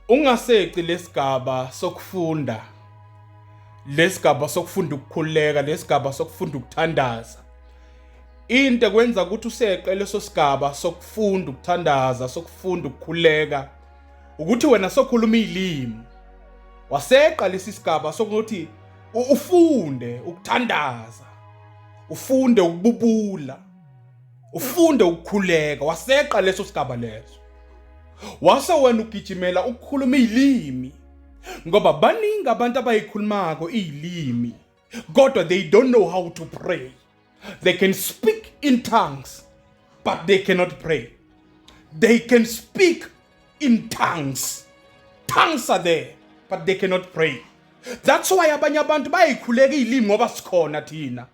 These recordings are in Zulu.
Ungaseqi lesigaba sokufunda lesigaba sokufunda ukukhuleka lesigaba sokufunda ukuthandaza into kwenza ukuthi useqe leso sigaba sokufunda ukuthandaza sokufunda ukukhuleka ukuthi wena sokhuluma izilimi waseqa lesi sigaba sokuthi ufunde ukuthandaza ufunde ukububula ufunde ukukhuleka waseqa leso sigaba leso wase wena ugijimela ukukhuluma izilimi ngoba baningi abantu abayikhulumako izilimi kodwa they don't know how to pray they can speak in tongues but they cannot pray they can speak in tongues tongues are there but they cannot pray that's why abanye abantu bayikhuleka izilimi ngoba sikhona thina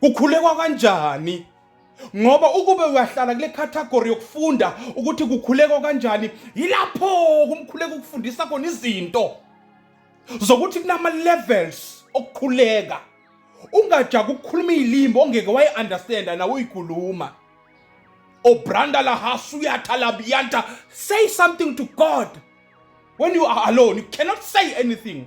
Kukhulekwa kanjani? Ngoba ukube uyahlala kule category yokufunda ukuthi kukhulekwa kanjani, yilapho kumkhuleka ukufundisa khona izinto zokuthi kunama levels okukhuleka. Ungajaga ukukhuluma izilimi ongeke wayi understand nawe uyikhuluma. Obranda la hasuyatha la biyanta say something to God. When you are alone, you cannot say anything.